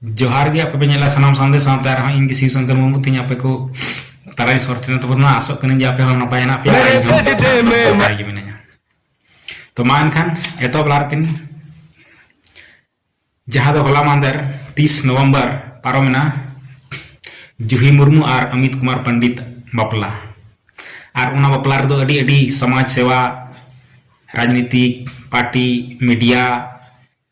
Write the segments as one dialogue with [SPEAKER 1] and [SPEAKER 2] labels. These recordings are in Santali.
[SPEAKER 1] ᱡᱚᱦᱟᱨ ᱜᱮ ᱟᱯᱮ ᱯᱮ ᱧᱮᱞᱟ ᱥᱟᱱᱟᱢ ᱥᱟᱱᱫᱮᱥ ᱥᱟᱶᱛᱮ ᱟᱨᱦᱚᱸ ᱤᱧ ᱜᱮ ᱥᱤᱵ ᱥᱚᱝᱠᱚᱨ ᱢᱩᱨᱢᱩ ᱛᱤᱧ ᱟᱯᱮ ᱠᱚ ᱛᱟᱨᱟᱭ ᱥᱚᱨ ᱛᱮᱱᱟ ᱛᱟᱵᱚᱱ ᱢᱟ ᱟᱥᱚᱜ ᱠᱟᱹᱱᱟᱹᱧ ᱡᱮ ᱟᱯᱮ ᱦᱚᱸ ᱱᱟᱯᱟᱭ ᱦᱮᱱᱟᱜ ᱯᱮᱭᱟ ᱟᱨ ᱤᱧ ᱦᱚᱸ ᱱᱟᱯᱟᱭ ᱜᱮ ᱢᱤᱱᱟᱹᱧᱟ ᱛᱚ ᱢᱟ ᱮᱱᱠᱷᱟᱱ ᱮᱛᱚᱦᱚᱵ ᱞᱟᱦᱟ ᱨᱮᱛᱤᱧ ᱡᱟᱦᱟᱸ ᱫᱚ ᱦᱚᱞᱟ ᱢᱟᱦᱫᱮᱨ ᱛᱤᱥ ᱱᱚᱵᱷᱮᱢᱵᱚᱨ ᱯᱟᱨᱚᱢᱮᱱᱟ ᱡᱩᱦᱤ ᱢᱩᱨᱢᱩ ᱟᱨ ᱚᱢᱤᱛ ᱠᱩᱢᱟᱨ ᱯᱚᱱᱰᱤᱛ ᱵᱟᱯᱞᱟ ᱟᱨ ᱚᱱᱟ ᱵᱟᱯᱞᱟ ᱨᱮᱫᱚ ᱟᱹᱰᱤ ᱟᱹᱰᱤ ᱥᱚᱢᱟᱡᱽ ᱥᱮᱵᱟ ᱨᱟᱡᱽᱱᱤᱛᱤᱠ ᱯᱟᱨᱴᱤ ᱢᱤᱰᱤᱭᱟ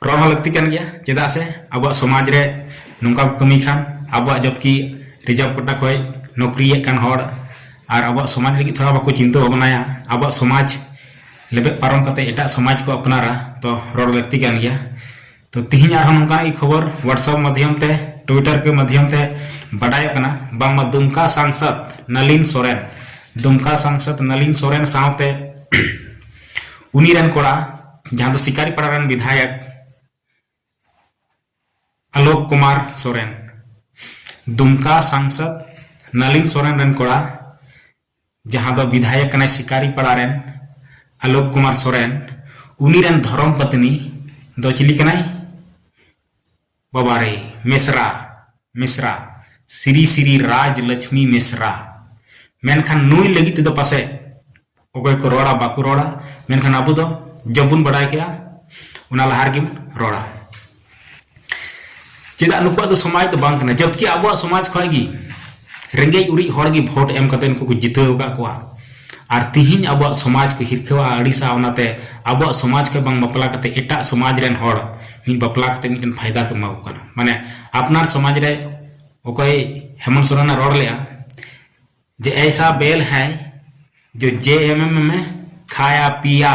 [SPEAKER 1] ᱨᱚᱲ ᱦᱚᱸ ᱞᱟᱹᱠᱛᱤ ᱠᱟᱱ ᱜᱮᱭᱟ ᱪᱮᱫᱟᱜ ᱥᱮ ᱟᱵᱚᱣᱟᱜ ᱥᱚᱢᱟᱡᱽ ᱨᱮ ᱱᱚᱝᱠᱟ ᱠᱚ ᱠᱟᱹᱢᱤ ᱠᱷᱟᱱ ᱟᱵᱚᱣᱟᱜ ᱡᱚᱵᱠᱤ ᱨᱤᱡᱟᱨᱵᱷ ᱠᱳᱴᱟ ᱠᱷᱚᱱ ᱱᱚᱠᱨᱤᱭᱮᱫ ᱠᱟᱱ ᱦᱚᱲ ᱟᱨ ᱟᱵᱚᱣᱟᱜ ᱥᱚᱢᱟᱡᱽ ᱞᱟᱹᱜᱤᱫ ᱛᱷᱚᱲᱟ ᱵᱟᱠᱚ ᱪᱤᱱᱛᱟᱹ ᱵᱷᱟᱵᱽᱱᱟᱭᱟ ᱟᱵᱚᱣᱟᱜ ᱥᱚᱢᱟᱡᱽ ᱞᱮᱵᱮᱫ ᱯᱟᱨᱚᱢ ᱠᱟᱛᱮ ᱮᱴᱟᱜ ᱥᱚᱢᱟᱡᱽ ᱠᱚ ᱟᱯᱱᱟᱨᱟ ᱛᱚ ᱨᱚᱲ ᱞᱟᱹᱠᱛᱤ ᱠᱟᱱ ᱜᱮᱭᱟ ᱛᱚ ᱛᱤᱦᱤᱧ ᱟᱨᱦᱚᱸ ᱱᱚᱝᱠᱟᱱᱟᱜ ᱜᱮ ᱠᱷᱚᱵᱚᱨ ᱦᱳᱣᱟᱴᱥᱟᱯ ᱢᱟᱫᱽᱫᱷᱚᱢ ᱛᱮ ᱴᱩᱭᱴᱟᱨ ᱠᱚ ᱢᱟᱫᱽᱫᱷᱚᱢ ᱛᱮ ᱵᱟᱰᱟᱭᱚᱜ ᱠᱟᱱᱟ ᱵᱟᱝᱢᱟ ᱫᱩᱢᱠᱟ ᱥᱟᱝᱥᱚᱫ ᱱᱟᱞᱤᱱ ᱥᱚᱨᱮᱱ ᱫᱩᱢᱠᱟ ᱥᱟᱝᱥᱚᱫ ᱱᱟᱞᱤᱱ ᱥᱚᱨᱮᱱ ᱥᱟᱶᱛᱮ ᱩᱱᱤ ᱨᱮᱱ ᱠᱚᱲᱟ ᱡᱟᱦᱟᱸ ᱫᱚ ᱥᱤᱠᱟᱨᱤ ᱯᱟᱲᱟ ᱨᱮᱱ ᱵᱤᱫᱷᱟᱭᱚᱠ ᱟᱞᱳᱠ ᱠᱩᱢᱟᱨ ᱥᱚᱨᱮᱱ ᱫᱩᱢᱠᱟ ᱥᱟᱝᱥᱚᱫ ᱱᱟᱞᱤᱱ ᱥᱚᱨᱮᱱ ᱨᱮᱱ ᱠᱚᱲᱟ ᱡᱟᱦᱟᱸ ᱫᱚ ᱵᱤᱫᱷᱟᱭᱚᱠ ᱠᱟᱱᱟᱭ ᱥᱤᱠᱟᱨᱤ ᱯᱟᱲᱟ ᱨᱮᱱ ᱟᱞᱳᱠ ᱠᱩᱢᱟᱨ ᱥᱚᱨᱮᱱ ᱩᱱᱤ ᱨᱮᱱ ᱫᱷᱚᱨᱚᱢ ᱯᱚᱛᱱᱤ ᱫᱚ ᱪᱤᱞᱤ ᱠᱟᱱᱟᱭ ᱵᱟᱵᱟᱨᱮ ᱢᱮᱥᱨᱟ ᱢᱮᱥᱨᱟ ᱥᱨᱤ ᱥᱨᱤ ᱨᱟᱡᱽ ᱞᱟᱪᱷᱢᱤ ᱢᱮᱥᱨᱟ ᱢᱮᱱᱠᱷᱟᱱ ᱱᱩᱭ ᱞᱟᱹᱜᱤᱫ ᱛᱮᱫᱚ ᱯᱟᱥᱮᱡ ᱚᱠᱚᱭ ᱠᱚ ᱨᱚᱲᱟ ᱵᱟᱠᱚ ᱨᱚᱲᱟ ᱢᱮᱱᱠᱷᱟᱱ ᱟᱵᱚ ᱫᱚ ᱡᱚᱵ ᱵᱚᱱ ᱵᱟᱰᱟᱭ ᱠᱮᱜᱼᱟ ᱚᱱᱟ ᱞᱟᱦᱟ ᱨᱮᱜᱮ ᱵᱚᱱ ᱨᱚᱲᱟ ᱪᱮᱫᱟᱜ ᱱᱩᱠᱩᱣᱟᱜ ᱫᱚ ᱥᱚᱢᱟᱡᱽ ᱫᱚ ᱵᱟᱝ ᱠᱟᱱᱟ ᱡᱚᱵᱠᱤ ᱟᱵᱚᱣᱟᱜ ᱥᱚᱢᱟᱡᱽ ᱠᱷᱚᱱ ᱜᱮ ᱨᱮᱸᱜᱮᱡ ᱩᱨᱤᱡ ᱦᱚᱲ ᱜᱮ ᱵᱷᱳᱴ ᱮᱢ ᱠᱟᱛᱮ ᱱᱩᱠᱩ ᱠᱚ ᱡᱤᱛᱟᱹᱣ ᱟᱠᱟᱫ ᱠᱚᱣᱟ ᱟᱨ ᱛᱤᱦᱤᱧ ᱟᱵᱚᱣᱟᱜ ᱥᱚᱢᱟᱡᱽ ᱠᱚ ᱦᱤᱨᱠᱷᱟᱹᱣᱟ ᱟᱹᱲᱤᱥᱟ ᱚᱱᱟᱛᱮ ᱟᱵᱚᱣᱟᱜ ᱥᱚᱢᱟᱡᱽ ᱠᱷᱚᱱ ᱵᱟᱝ ᱵᱟᱯᱞᱟ ᱠᱟᱛᱮ ᱮᱴᱟᱜ ᱥᱚᱢᱟᱡᱽ ᱨᱮᱱ ᱦᱚᱲ ᱢᱤᱫ ᱵᱟᱯᱞᱟ ᱠᱟᱛᱮ ᱢᱤᱫᱴᱮᱱ ᱯᱷᱟᱭᱫᱟ ᱠᱚ ᱮᱢᱟ ᱠᱚ ᱠᱟᱱᱟ ᱢᱟᱱᱮ ᱟᱯᱱᱟᱨ ᱥᱚᱢᱟᱡᱽ ᱨᱮ ᱚᱠᱚᱭ ᱦᱮᱢᱚᱱ ᱥᱚᱨᱮᱱ ᱮ ᱨᱚᱲ ᱞᱮᱜᱼᱟ ᱡᱮ ᱮᱭᱥᱟ ᱵᱮᱞ ᱦᱟᱭ ᱡᱮ ᱡᱮ ᱮᱢ ᱮᱢ ᱮᱢ ᱠᱷᱟᱭᱟ ᱯᱤᱭᱟ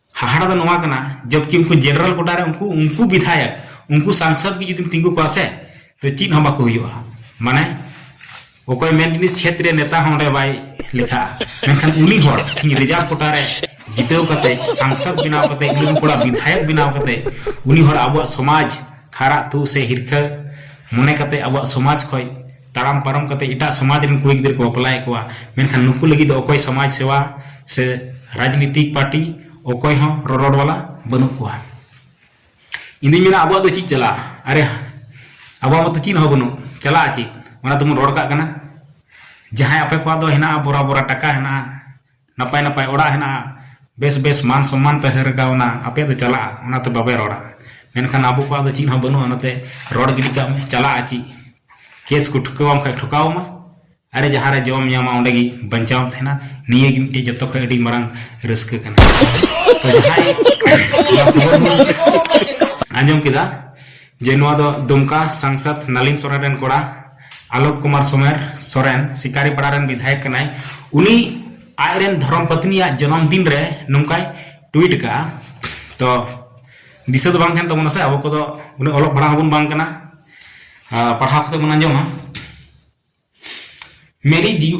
[SPEAKER 1] ᱦᱟᱦᱟᱲᱟ ᱫᱚ ᱱᱚᱣᱟ ᱠᱟᱱᱟ ᱡᱚᱵᱠᱤ ᱩᱱᱠᱩ ᱡᱮᱱᱟᱨᱮᱞ ᱜᱚᱰᱟ ᱨᱮ ᱩᱱᱠᱩ ᱩᱱᱠᱩ ᱵᱤᱫᱷᱟᱭᱚᱠ ᱩᱱᱠᱩ ᱥᱟᱝᱥᱚᱫ ᱜᱮ ᱡᱩᱫᱤᱢ ᱛᱤᱸᱜᱩ ᱠᱚᱣᱟ ᱥᱮ ᱛᱚ ᱪᱮᱫ ᱦᱚᱸ ᱵᱟᱠᱚ ᱦᱩᱭᱩᱜᱼᱟ ᱢᱟᱱᱮ ᱚᱠᱚᱭ ᱢᱮᱱ ᱡᱤᱱᱤᱥ ᱪᱷᱮᱛᱨᱮ ᱱᱮᱛᱟ ᱦᱚᱸ ᱚᱸᱰᱮ ᱵᱟᱭ ᱞᱮᱠᱷᱟᱜᱼᱟ ᱢᱮᱱᱠᱷᱟᱱ ᱩᱱᱤ ᱦᱚᱲ ᱤᱧ ᱨᱤᱡᱟᱨᱵᱷ ᱠᱚᱴᱟ ᱨᱮ ᱡᱤᱛᱟᱹᱣ ᱠᱟᱛᱮ ᱥᱟᱝᱥᱚᱫ ᱵᱮᱱᱟᱣ ᱠᱟᱛᱮ ᱤᱞᱩᱢ ᱠᱚᱲᱟ ᱵᱤᱫᱷᱟᱭᱚᱠ ᱵᱮᱱᱟᱣ ᱠᱟᱛᱮ ᱩᱱᱤ ᱦᱚᱲ ᱟᱵᱚᱣᱟᱜ ᱥᱚᱢᱟᱡᱽ ᱠᱷᱟᱨᱟᱜ ᱛᱩ ᱥᱮ ᱦᱤᱨᱠᱷᱟᱹ ᱢᱚᱱᱮ ᱠᱟᱛᱮ ᱟᱵᱚᱣᱟᱜ ᱥᱚᱢᱟᱡᱽ ᱠᱷᱚᱡ ᱛᱟᱲᱟᱢ ᱯᱟᱨᱚᱢ ᱠᱟᱛᱮ ᱮᱴᱟᱜ ᱥᱚᱢᱟᱡᱽ ᱨᱮᱱ ᱠᱩᱲᱤ ᱜᱤᱫᱽᱨᱟᱹ ᱠᱚ ᱵᱟᱯᱞᱟᱭᱮᱫ ᱠᱚᱣᱟ ᱢᱮᱱᱠᱷᱟᱱ ᱱᱩᱠᱩ ᱞᱟᱹᱜᱤᱫ ᱫᱚ ᱚᱠᱚᱭ ᱥᱚᱢᱟᱡᱽ ᱥᱮᱵᱟ ᱥᱮ ᱨᱟᱡᱽᱱᱤᱛᱤᱠ ᱯᱟᱨᱴᱤ ᱚᱠᱚᱭ ᱦᱚᱸ ᱨᱚᱨᱚᱲ ᱵᱟᱞᱟ ᱵᱟᱹᱱᱩᱜ ᱠᱚᱣᱟ ᱤᱧ ᱫᱩᱧ ᱢᱮᱱᱟ ᱟᱵᱚᱣᱟᱜ ᱫᱚ ᱪᱮᱫ ᱪᱟᱞᱟᱜᱼᱟ ᱟᱨᱮ ᱟᱵᱚᱣᱟᱜ ᱢᱟᱛᱚ ᱪᱮᱫ ᱦᱚᱸ ᱵᱟᱹᱱᱩᱜ ᱪᱟᱞᱟᱜᱼᱟ ᱪᱮᱫ ᱚᱱᱟ ᱛᱮᱵᱚᱱ ᱨᱚᱲ ᱠᱟᱜ ᱠᱟᱱᱟ ᱡᱟᱦᱟᱸᱭ ᱟᱯᱮ ᱠᱚᱣᱟᱜ ᱫᱚ ᱦᱮᱱᱟᱜᱼᱟ ᱵᱚᱨᱟ ᱵᱚᱨᱟ ᱴᱟᱠᱟ ᱦᱮᱱᱟᱜᱼᱟ ᱱᱟᱯᱟᱭ ᱱᱟᱯᱟᱭ ᱚᱲᱟᱜ ᱦᱮᱱᱟᱜᱼᱟ ᱵᱮᱥ ᱵᱮᱥ ᱢᱟᱱ ᱥᱚᱢᱢᱟᱱ ᱛᱮ ᱦᱟᱹᱨ ᱜᱟᱣᱱᱟ ᱟᱯᱮ ᱫᱚ ᱪᱟᱞᱟᱜᱼᱟ ᱚᱱᱟ ᱛᱮ ᱵᱟᱯᱮ ᱨᱚᱲᱟ ᱢᱮᱱᱠᱷᱟᱱ ᱟᱵᱚ ᱠᱚᱣᱟᱜ ᱫᱚ ᱪᱮᱫ ᱦᱚᱸ ᱵᱟᱹᱱᱩᱜᱼᱟ ᱚᱱᱟ ᱛᱮ ᱨᱚᱲ ᱜᱤᱰᱤ ᱠᱟᱜ ᱢᱮ ᱪᱟᱞᱟᱜᱼᱟ ᱪᱮᱫ ᱠᱮᱥ ᱠᱚ ᱴᱷᱩᱠᱟᱹᱣᱟᱢ ᱠᱷᱟᱱ ᱴᱷᱩᱠᱟᱹᱣ ᱟᱢᱟ ᱟᱨᱮ ᱡᱟᱦᱟᱸ ᱨᱮ ᱡᱚᱢ ᱧᱟᱢᱟ ᱚᱸᱰᱮ ᱜᱮ ᱵᱟᱧᱪᱟᱣ ᱮᱢ ᱛᱟᱦᱮᱱᱟ ᱱᱤᱭᱟᱹ ᱜᱮ ᱢᱤᱫᱴᱮᱡ ᱡᱚᱛᱚ ᱠᱷᱚᱱ ᱟᱹᱰᱤ ᱢᱟᱨᱟᱝ ᱨᱟᱹᱥᱠᱟᱹ ᱠᱟᱱᱟ ᱛᱚ ᱡᱟᱦᱟᱸᱭ ᱚᱱᱟ ᱠᱷᱚᱵᱚᱨ ᱵᱚᱱ ᱟᱸᱡᱚᱢ ᱠᱮᱫᱟ ᱡᱮ ᱱᱚᱣᱟ ᱫᱚ ᱫᱩᱢᱠᱟ ᱥᱟᱝᱥᱟᱫ ᱱᱟᱞᱤᱱ ᱥᱚᱨᱮᱱ ᱨᱮᱱ ᱠᱚᱲᱟ ᱟᱞᱳᱠ ᱠᱩᱢᱟᱨ ᱥᱚᱢᱮᱨ ᱥᱚᱨᱮᱱ ᱥᱤᱠᱟᱨᱤ ᱯᱟᱲᱟ ᱨᱮᱱ ᱵᱤᱫᱷᱟᱭᱚᱠ ᱠᱟᱱᱟᱭ ᱩᱱᱤ ᱟᱡ ᱨᱮᱱ ᱫᱷᱚᱨᱚᱢ ᱯᱚᱛᱱᱤᱭᱟᱜ ᱡᱚᱱᱚᱢ ᱫᱤᱱ ᱨᱮ ᱱᱚᱝᱠᱟᱭ ᱴᱩᱭᱤᱴ ᱠᱟᱜᱼᱟ ᱛᱚ ᱫᱤᱥᱟᱹ ᱫᱚ ᱵᱟᱝ ᱛᱟᱦᱮᱱ ᱛᱟᱵᱚᱱᱟ ᱥᱮ ᱟᱵᱚ ᱠᱚᱫᱚ ᱩᱱᱟᱹᱜ ᱚᱞᱚᱜ ᱯᱟᱲᱦᱟᱣ ᱦᱚᱸᱵᱚᱱ ᱵᱟᱝ ᱠᱟᱱᱟ ᱯᱟᱲᱦᱟᱣ ᱠᱟᱛᱮ ᱵᱚᱱ ᱟᱸᱡᱚᱢᱟ ᱢᱮᱨᱤ ᱡᱤᱣ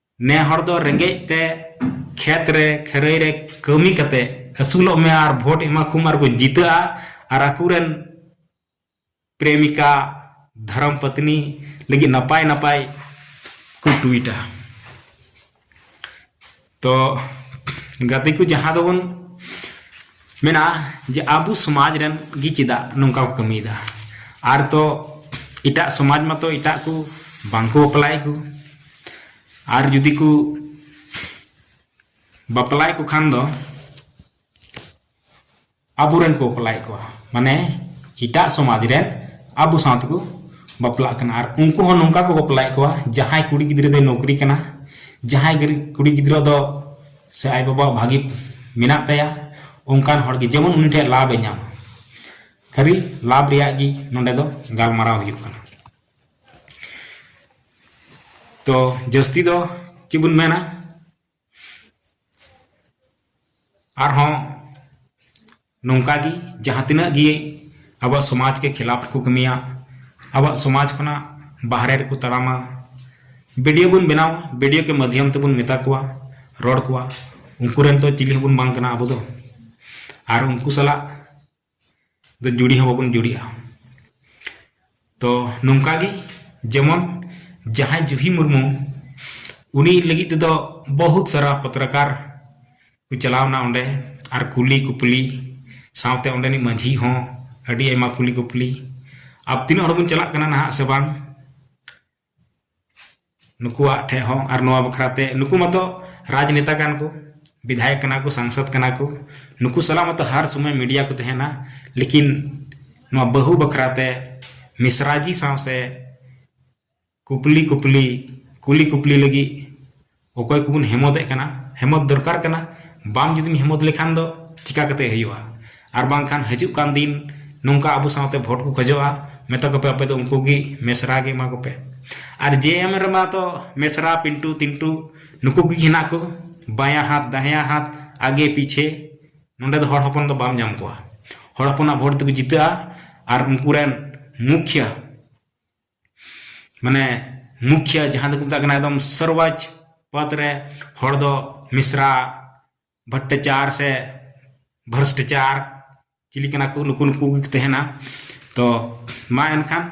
[SPEAKER 1] ᱱᱮ ᱦᱚᱲ ᱫᱚ ᱨᱮᱸᱜᱮᱡ ᱛᱮ ᱠᱷᱮᱛ ᱨᱮ ᱠᱷᱟᱹᱨᱟᱹᱭ ᱨᱮ ᱠᱟᱹᱢᱤ ᱠᱟᱛᱮ ᱟᱹᱥᱩᱞᱚᱜ ᱢᱮ ᱟᱨ ᱵᱷᱳᱴ ᱮᱢᱟ ᱠᱚᱢ ᱟᱨ ᱠᱚ ᱡᱤᱛᱟᱹᱜᱼᱟ ᱟᱨ ᱟᱠᱚ ᱨᱮᱱ ᱯᱨᱮᱢᱤᱠᱟ ᱫᱷᱚᱨᱚᱢ ᱯᱚᱛᱱᱤ ᱞᱟᱹᱜᱤᱫ ᱱᱟᱯᱟᱭ ᱱᱟᱯᱟᱭ ᱠᱚ ᱴᱩᱭᱤᱴᱟ ᱛᱚ ᱜᱟᱛᱮ ᱠᱚ ᱡᱟᱦᱟᱸ ᱫᱚᱵᱚᱱ ᱢᱮᱱᱟ ᱡᱮ ᱟᱵᱚ ᱥᱚᱢᱟᱡᱽ ᱨᱮᱱ ᱜᱮ ᱪᱮᱫᱟᱜ ᱱᱚᱝᱠᱟ ᱠᱚ ᱠᱟᱹᱢᱤᱭᱮᱫᱟ ᱟᱨ ᱛᱚ ᱮᱴᱟᱜ ᱥᱚᱢᱟᱡᱽ ᱢᱟᱛᱚ ᱮᱴᱟᱜ ᱠᱚ ᱵᱟᱝᱠᱚ ᱵᱟᱯᱞᱟᱭᱮᱫ ᱠᱚ ᱟᱨ ᱡᱩᱫᱤ ᱠᱚ ᱵᱟᱯᱞᱟᱭᱮᱫ ᱠᱚ ᱠᱷᱟᱱ ᱫᱚ ᱟᱵᱚᱨᱮᱱ ᱠᱚ ᱵᱟᱯᱞᱟᱭᱮᱫ ᱠᱚᱣᱟ ᱢᱟᱱᱮ ᱮᱴᱟᱜ ᱥᱚᱢᱟᱡᱽ ᱨᱮᱱ ᱟᱵᱚ ᱥᱟᱶ ᱛᱮᱠᱚ ᱵᱟᱯᱞᱟᱜ ᱠᱟᱱᱟ ᱟᱨ ᱩᱱᱠᱩ ᱦᱚᱸ ᱱᱚᱝᱠᱟ ᱠᱚ ᱵᱟᱯᱞᱟᱭᱮᱫ ᱠᱚᱣᱟ ᱡᱟᱦᱟᱸᱭ ᱠᱩᱲᱤ ᱜᱤᱫᱽᱨᱟᱹ ᱫᱚᱭ ᱱᱚᱠᱨᱤ ᱠᱟᱱᱟ ᱡᱟᱦᱟᱸᱭ ᱠᱩᱲᱤ ᱜᱤᱫᱽᱨᱟᱹ ᱫᱚ ᱥᱮ ᱟᱡ ᱵᱟᱵᱟᱣᱟᱜ ᱵᱷᱟᱹᱜᱤ ᱢᱮᱱᱟᱜ ᱛᱟᱭᱟ ᱚᱱᱠᱟᱱ ᱦᱚᱲ ᱜᱮ ᱡᱮᱢᱚᱱ ᱩᱱᱤ ᱴᱷᱮᱱ ᱞᱟᱵᱷ ᱮ ᱧᱟᱢᱟ ᱠᱷᱟᱹᱞᱤ ᱞᱟᱵᱷ ᱨᱮᱭᱟᱜ ᱜᱮ ᱱᱚᱰᱮ ᱫᱚ ᱜᱟᱞᱢᱟᱨᱟᱣ ᱦᱩᱭᱩᱜ ᱠᱟᱱᱟ ᱛᱚ ᱡᱟᱹᱥᱛᱤ ᱫᱚ ᱪᱮᱫ ᱵᱚᱱ ᱢᱮᱱᱟ ᱟᱨᱦᱚᱸ ᱱᱚᱝᱠᱟ ᱜᱮ ᱡᱟᱦᱟᱸ ᱛᱤᱱᱟᱹᱜ ᱜᱮ ᱟᱵᱚᱣᱟᱜ ᱥᱚᱢᱟᱡᱽ ᱠᱮ ᱠᱷᱤᱞᱟᱯ ᱨᱮᱠᱚ ᱠᱟᱹᱢᱤᱭᱟ ᱟᱵᱚᱣᱟᱜ ᱥᱚᱢᱟᱡᱽ ᱠᱷᱚᱱᱟᱜ ᱵᱟᱦᱨᱮ ᱨᱮᱠᱚ ᱛᱟᱲᱟᱢᱟ ᱵᱤᱰᱤᱭᱳ ᱵᱚᱱ ᱵᱮᱱᱟᱣᱟ ᱵᱤᱰᱤᱭᱳ ᱠᱮ ᱢᱟᱫᱽᱫᱷᱚᱢ ᱛᱮᱵᱚᱱ ᱢᱮᱛᱟ ᱠᱚᱣᱟ ᱨᱚᱲ ᱠᱚᱣᱟ ᱩᱱᱠᱩ ᱨᱮᱱ ᱛᱚ ᱪᱤᱞᱤ ᱦᱚᱸᱵᱚᱱ ᱵᱟᱝ ᱠᱟᱱᱟ ᱟᱵᱚ ᱫᱚ ᱟᱨ ᱩᱱᱠᱩ ᱥᱟᱞᱟᱜ ᱫᱚ ᱡᱩᱲᱤ ᱦᱚᱸ ᱵᱟᱵᱚᱱ ᱡᱩᱲᱤᱜᱼᱟ ᱛᱚ ᱱᱚᱝᱠᱟ ᱜᱮ ᱡᱮᱢᱚᱱ ᱡᱟᱦᱟᱸᱭ ᱡᱩᱦᱤ ᱢᱩᱨᱢᱩ ᱩᱱᱤ ᱞᱟᱹᱜᱤᱫ ᱛᱮᱫᱚ ᱵᱚᱦᱩᱛ ᱥᱟᱨᱟ ᱯᱚᱛᱨᱟᱠᱟᱨ ᱠᱚ ᱪᱟᱞᱟᱣᱱᱟ ᱚᱸᱰᱮ ᱟᱨ ᱠᱩᱞᱤ ᱠᱩᱯᱞᱤ ᱥᱟᱶᱛᱮ ᱚᱸᱰᱮᱱᱤᱡ ᱢᱟᱺᱡᱷᱤ ᱦᱚᱸ ᱟᱹᱰᱤ ᱟᱭᱢᱟ ᱠᱩᱞᱤ ᱠᱩᱯᱞᱤ ᱟᱵ ᱛᱤᱱᱟᱹᱜ ᱦᱚᱲ ᱵᱚᱱ ᱪᱟᱞᱟᱜ ᱠᱟᱱᱟ ᱱᱟᱦᱟᱜ ᱥᱮ ᱵᱟᱝ ᱱᱩᱠᱩᱣᱟᱜ ᱴᱷᱮᱡ ᱦᱚᱸ ᱟᱨ ᱱᱚᱣᱟ ᱵᱟᱠᱷᱨᱟ ᱛᱮ ᱱᱩᱠᱩ ᱢᱟᱛᱚ ᱨᱟᱡᱽᱱᱮᱛᱟ ᱠᱟᱱ ᱠᱚ ᱵᱤᱫᱷᱟᱭᱚᱠ ᱠᱟᱱᱟ ᱠᱚ ᱥᱟᱝᱥᱚᱫᱽ ᱠᱟᱱᱟ ᱠᱚ ᱱᱩᱠᱩ ᱥᱟᱞᱟᱜ ᱢᱟᱛᱚ ᱦᱟᱨ ᱥᱚᱢᱚᱭ ᱢᱤᱰᱤᱭᱟ ᱠᱚ ᱛᱟᱦᱮᱱᱟ ᱞᱮᱠᱤᱱ ᱱᱚᱣᱟ ᱵᱟᱹᱦᱩ ᱵᱟᱠᱷᱨᱟ ᱛᱮ ᱢᱤᱥᱨᱟ ᱡᱤ ᱥᱟᱶ ᱥᱮ ᱠᱩᱯᱞᱤ ᱠᱩᱯᱞᱤ ᱠᱩᱞᱤ ᱠᱩᱯᱞᱤ ᱞᱟᱹᱜᱤᱫ ᱚᱠᱚᱭ ᱠᱚᱵᱚᱱ ᱦᱮᱢᱚᱫᱮᱜ ᱠᱟᱱᱟ ᱦᱮᱢᱚᱫ ᱫᱚᱨᱠᱟᱨ ᱠᱟᱱᱟ ᱵᱟᱢ ᱡᱩᱫᱤᱢ ᱦᱮᱢᱚᱫ ᱞᱮᱠᱷᱟᱱ ᱫᱚ ᱪᱤᱠᱟᱹ ᱠᱟᱛᱮᱫ ᱦᱩᱭᱩᱜᱼᱟ ᱟᱨ ᱵᱟᱝᱠᱷᱟᱱ ᱦᱤᱡᱩᱜ ᱠᱟᱱ ᱫᱤᱱ ᱱᱚᱝᱠᱟ ᱟᱵᱚ ᱥᱟᱶᱛᱮ ᱵᱷᱳᱴ ᱠᱚ ᱠᱷᱚᱡᱚᱜᱼᱟ ᱢᱮᱛᱟ ᱠᱚᱯᱮ ᱟᱯᱮ ᱫᱚ ᱩᱱᱠᱩ ᱜᱮ ᱢᱮᱥᱨᱟ ᱜᱮ ᱮᱢᱟ ᱠᱚᱯᱮ ᱟᱨ ᱡᱮ ᱮᱢ ᱨᱮᱢᱟ ᱛᱚ ᱢᱮᱥᱨᱟ ᱯᱤᱱᱴᱩ ᱛᱤᱱᱴᱩ ᱱᱩᱠᱩ ᱠᱚᱜᱮ ᱦᱮᱱᱟᱜ ᱠᱚ ᱵᱟᱭᱟ ᱦᱟᱛ ᱫᱟᱦᱮᱭᱟ ᱦᱟᱛ ᱟᱜᱮ ᱯᱤᱪᱷᱮ ᱱᱚᱰᱮ ᱫᱚ ᱦᱚᱲ ᱦᱚᱯᱚᱱ ᱫᱚ ᱵᱟᱢ ᱧᱟᱢ ᱠᱚᱣᱟ ᱦᱚᱲ ᱦᱚᱯᱚᱱᱟᱜ ᱵᱷᱳᱴ ᱛᱮᱠᱚ ᱡᱤᱛᱟᱹᱜᱼᱟ ᱟᱨ ᱩᱱᱠᱩ ᱨᱮᱱ ᱢᱩᱠᱷᱤᱭᱟᱹ ᱢᱟᱱᱮ ᱢᱩᱠᱷᱤᱭᱟ ᱡᱟᱦᱟᱸ ᱫᱚᱠᱚ ᱢᱮᱛᱟᱜ ᱠᱟᱱᱟ ᱮᱠᱫᱚᱢ ᱥᱚᱨᱵᱟᱡᱽ ᱯᱚᱫᱽ ᱨᱮ ᱦᱚᱲ ᱫᱚ ᱢᱤᱥᱨᱟ ᱵᱷᱚᱴᱴᱟᱪᱟᱨ ᱥᱮ ᱵᱷᱨᱚᱥᱴᱟᱪᱟᱨ ᱪᱤᱞᱤ ᱠᱟᱱᱟ ᱠᱚ ᱱᱩᱠᱩ ᱱᱩᱠᱩ ᱜᱮᱠᱚ ᱛᱟᱦᱮᱱᱟ ᱛᱚ ᱢᱟ ᱮᱱᱠᱷᱟᱱ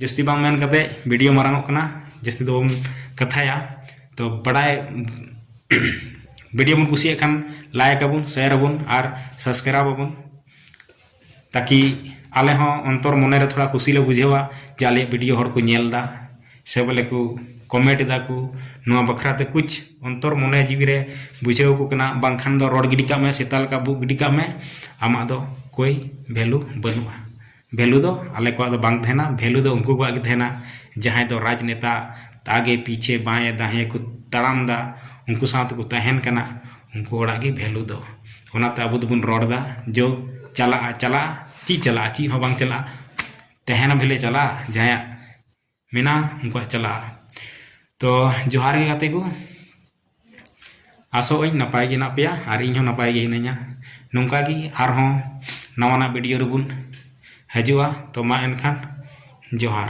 [SPEAKER 1] ᱡᱟᱹᱥᱛᱤ ᱵᱟᱝ ᱢᱮᱱ ᱠᱟᱛᱮ ᱵᱷᱤᱰᱤᱭᱳ ᱢᱟᱨᱟᱝᱚᱜ ᱠᱟᱱᱟ ᱡᱟᱹᱥᱛᱤ ᱫᱚ ᱵᱟᱵᱚᱱ ᱠᱟᱛᱷᱟᱭᱟ ᱛᱚ ᱵᱟᱰᱟᱭ ᱵᱷᱤᱰᱤᱭᱳ ᱵᱚᱱ ᱠᱩᱥᱤᱭᱟᱜ ᱠᱷᱟᱱ ᱞᱟᱭᱤᱠ ᱟᱵᱚᱱ ᱥᱮᱭᱟᱨ ᱟᱵᱚᱱ ᱟᱨ ᱥᱟᱵᱥᱠᱨᱟᱭᱤᱵ ᱟᱵᱚᱱ ᱛᱟᱠᱤ ᱟᱞᱮ ᱦᱚᱸ ᱚᱱᱛᱚᱨ ᱢᱚᱱᱮ ᱨᱮ ᱛᱷᱚᱲᱟ ᱠᱩᱥᱤ ᱞᱮ ᱵᱩᱡᱷᱟᱹᱣᱟ ᱡᱮ ᱟᱞᱮᱭᱟᱜ ᱵᱷᱤᱰᱤᱭᱳ ᱦᱚᱲ ᱠᱚ ᱧᱮᱞ ᱮᱫᱟ ᱥᱮ ᱵᱚᱞᱮ ᱠᱚ ᱠᱚᱢᱮᱱᱴ ᱮᱫᱟ ᱠᱚ ᱱᱚᱣᱟ ᱵᱟᱠᱷᱨᱟ ᱛᱮ ᱠᱩᱪ ᱚᱱᱛᱚᱨ ᱢᱚᱱᱮ ᱡᱤᱣᱤ ᱨᱮ ᱵᱩᱡᱷᱟᱹᱣ ᱟᱠᱚ ᱠᱟᱱᱟ ᱵᱟᱝᱠᱷᱟᱱ ᱫᱚ ᱨᱚᱲ ᱜᱤᱰᱤ ᱠᱟᱜ ᱢᱮ ᱥᱮᱛᱟ ᱞᱮᱠᱟ ᱵᱷᱩᱜ ᱜᱤᱰᱤ ᱠᱟᱜ ᱢᱮ ᱟᱢᱟᱜ ᱫᱚ ᱠᱳᱭ ᱵᱷᱮᱞᱩ ᱵᱟᱹᱱᱩᱜᱼᱟ ᱵᱷᱮᱞᱩ ᱫᱚ ᱟᱞᱮ ᱠᱚᱣᱟᱜ ᱫᱚ ᱵᱟᱝ ᱛᱟᱦᱮᱱᱟ ᱵᱷᱮᱞᱩ ᱫᱚ ᱩᱱᱠᱩ ᱠᱚᱣᱟᱜ ᱜᱮ ᱛᱟᱦᱮᱱᱟ ᱡᱟᱦᱟᱸᱭ ᱫᱚ ᱨᱟᱡᱽᱱᱮᱛᱟ ᱟᱜᱮ ᱯᱤᱪᱷᱮ ᱵᱟᱸᱭᱮ ᱫᱟᱸᱭᱮ ᱠᱚ ᱛᱟᱲᱟᱢ ᱮᱫᱟ ᱩᱱᱠᱩ ᱥᱟᱶ ᱛᱮᱠᱚ ᱛᱟᱦᱮᱱ ᱠᱟᱱᱟ ᱩᱱᱠᱩ ᱦᱚᱲᱟᱜ ᱜᱮ ᱵᱷᱮᱞᱩ ᱫᱚ ᱚᱱᱟᱛᱮ ᱟᱵᱚ ᱫᱚᱵᱚᱱ ᱨᱚᱲᱫᱟ ᱡᱚ ᱪᱟᱞᱟᱜᱼᱟ ᱪᱟᱞᱟᱜᱼᱟ ᱪᱮᱫ ᱪᱟᱞᱟᱜᱼᱟ ᱪᱮᱫ ᱦᱚᱸ ᱵᱟᱝ ᱪᱟᱞᱟᱜᱼᱟ ᱛᱟᱦᱮᱱᱟ ᱵᱷᱟᱹᱞᱟᱹᱭ ᱪᱟᱞᱟᱜᱼᱟ ᱡᱟᱦᱟᱸᱭᱟᱜ ᱢᱮᱱᱟᱜᱼᱟ ᱩᱱᱠᱩᱣᱟᱜ ᱪᱟᱞᱟᱜᱼᱟ ᱛᱚ ᱡᱚᱦᱟᱨ ᱜᱮ ᱜᱟᱛᱮ ᱠᱚ ᱟᱥᱚᱜ ᱟᱹᱧ ᱱᱟᱯᱟᱭ ᱜᱮ ᱦᱮᱱᱟᱜ ᱯᱮᱭᱟ ᱟᱨ ᱤᱧ ᱦᱚᱸ ᱱᱟᱯᱟᱭ ᱜᱮ ᱦᱤᱱᱟᱹᱧᱟ ᱱᱚᱝᱠᱟ ᱜᱮ ᱟᱨᱦᱚᱸ ᱱᱟᱣᱟᱱᱟᱜ ᱵᱷᱤᱰᱤᱭᱳ ᱨᱮᱵᱚᱱ ᱦᱤᱡᱩᱜᱼᱟ ᱛᱚ ᱢᱟ ᱮᱱᱠᱷᱟᱱ ᱡᱚᱦᱟᱨ